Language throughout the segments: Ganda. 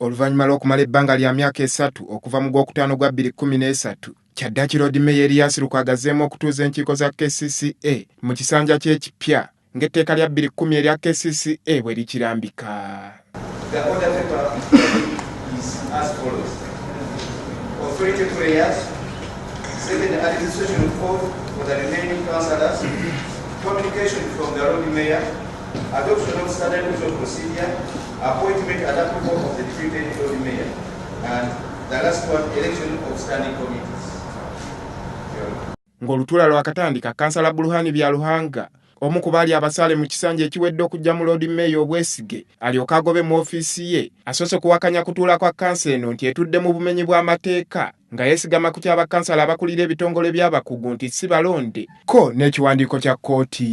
Oluvannyuma lw'okumala ebbanga lya myaka esatu okuva mu gw'okutaano gwa bbiri kkumi n'esatu, kyaddaki Loodi Meeya Erias Lukwago azzeemu okutuuza enkiiko za kcca mu kisanja kye ekipya ng'etteeka lya bbiri kkumi erya kcca bwe likirambika. The order paper is as follows. Authority prayers, second administration code for the remaining councillors, communication from the Lord Mayor, adoption of standard procedure, Appointment and approval of the treated Lord Mayor and the last one election of standing committees. Ng'olutuula lwakatandika, kansala Buluhani Byaruhanga omu ku baali abasaale mu kisanja ekiwedde okujja mu loodi meeya obwesige alyoke agobe mu ofiisi ye asoose kuwakanya kutuula kwa kansa eno nti etudde mu bumenyi bw'amateeka nga yesigama ku kya bakkansala abakulira ebitongole by'abakugu nti si balonde kko n'ekiwandiiko kya kkooti.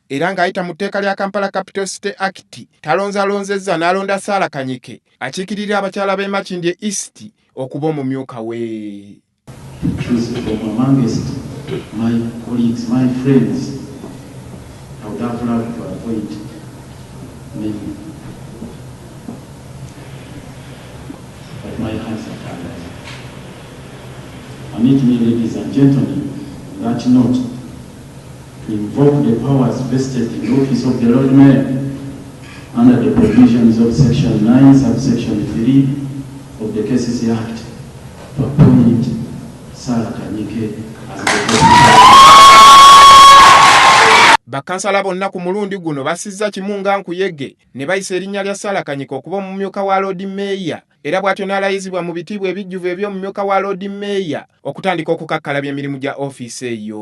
era ng'ayita mu tteeka lya Kampala Capital City Act talonzalonzezza n'alonda Sarah Kanyike akiikirira abakyala b'e Makindye East okuba omumyuka we. Permit me, ladies and gentlemen, that note invoke the powers vested in the office of the Lord Mayor under the provisions of section 9 subsection 3 of the KCC Act to appoint Sarah Kanyike as the Bakansala bonna ku mulundi guno basizza kimu nga nkuyege ne bayisa erinnya lya Sarah Kanyike okuba omumyuka wa Lord Mayor era bwatyo n'alayizibwa mu bitiibwa ebijjuvu eby'omumyuka wa Loodi Mmeeya okutandika okukakkalabya emirimu gya ofiisi eyo.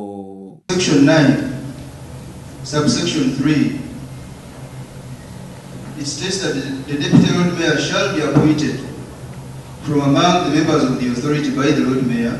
Section 9, Subsection 3, It states that the Deputy Lord Mayor shall be appointed from among the members of the Authority by the Lord Mayor,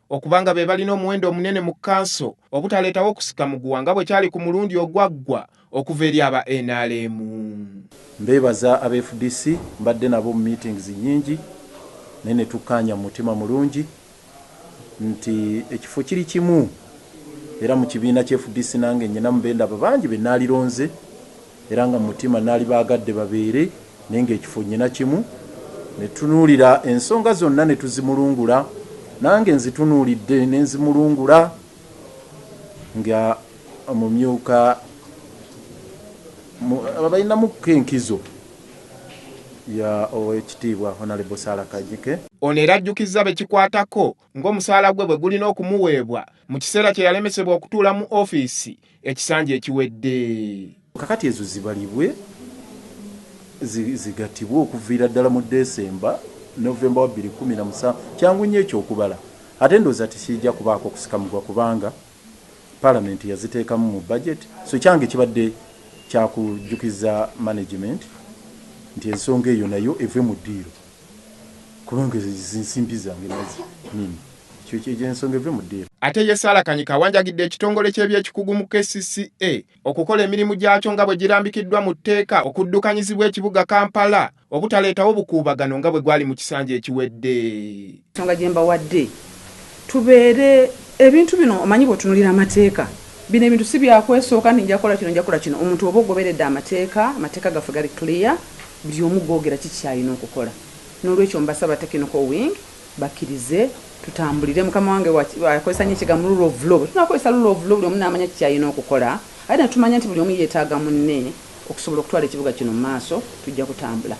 okuba nga be balina omuwendo omunene mu kkanso obutaleetawo kusika muguwa nga bwe kyali ku mulundi ogwaggwa okuva eri aba nrm. Mbeebaza aba fdc, mbadde nabo mu meetings nnyingi naye ne tukkaanya mu mutima mulungi nti ekifo kiri kimu era mu kibiina ki fdc nange nninamu be ndaba bangi be nalironze. Era nga mu mutima nnaali baagadde babeere naye ng'ekifo nnyina kimu. Ne tutunuulira ensonga zonna ne tuzimulungula. Nange nzitunuulidde ne nzimulungula nga omumyuka mu abalinamukko enkizo ya Oweekitiibwa Honourable Sarah Kajike. Ono era ajjukizza bekikwatako ng'omusaala gwe bwe gulina okumuweebwa mu kiseera kye yalemesebwa okutuula mu ofiisi ekisanja ekiwedde. Kakati ezo zibalibwe zigatibwe okuviira ddala mu December, November wa bbiri kkumi na musanvu. Kyangu nnyo ekyo okubala ate ndowooza tekirija kubaako kusika mugwa kubanga Palamenti yaziteekamu mu budget. So kyange kibadde kya kujjukiza management nti ensonga eyo nayo eve mu ddiiro. Kubanga ezo zinsimbi zange nazi nini ekyo ensonga eve mu deal. Ate ye Sarah Kanyike awanjagidde ekitongole ky'ebyekikugu mu kcca okukola emirimu gyakyo nga bwe girambikiddwa mu tteeka okuddukanyizibwa ekibuga Kampala obutaleetawo bukuubagano nga bwe gwali mu kisanja ekiwedde. Ensonga gye mbawadde tubeere ebintu bino omanyi bw'otunuulira amateeka, bino ebintu si bya kwesooka nti nja kukola kino nja kukola kino, omuntu oba ogoberedde amateeka, amateeka gaffe gali clear buli omu googera ki ky'alina okukola n'olwekyo mbasaba technical wing bakkirize tutambulire mukama wange akozesa nnyo ekigambo rule of law, bwe tunaakozesa rule of law buli omu n'amanya ki ky'alina okukola ate ne tumanya nti buli omu yeetaaga munne okusobola okutwala ekibuga kino mu maaso tujja kutambula.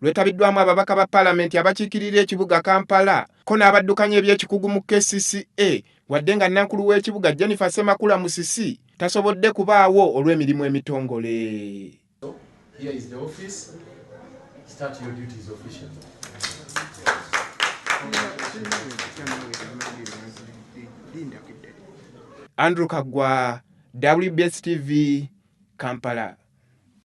lwetabiddwamu ababaka ba palamenti abakiikirira ekibuga Kampala ko n'abaddukanya eby'ekikugu mu kcca wadde nga nankulu w'ekibuga Jennifer Ssemakula Musisi tasobodde kubaawo olw'emirimu emitongole. Andrew Kagwa, WBS TV, Kampala.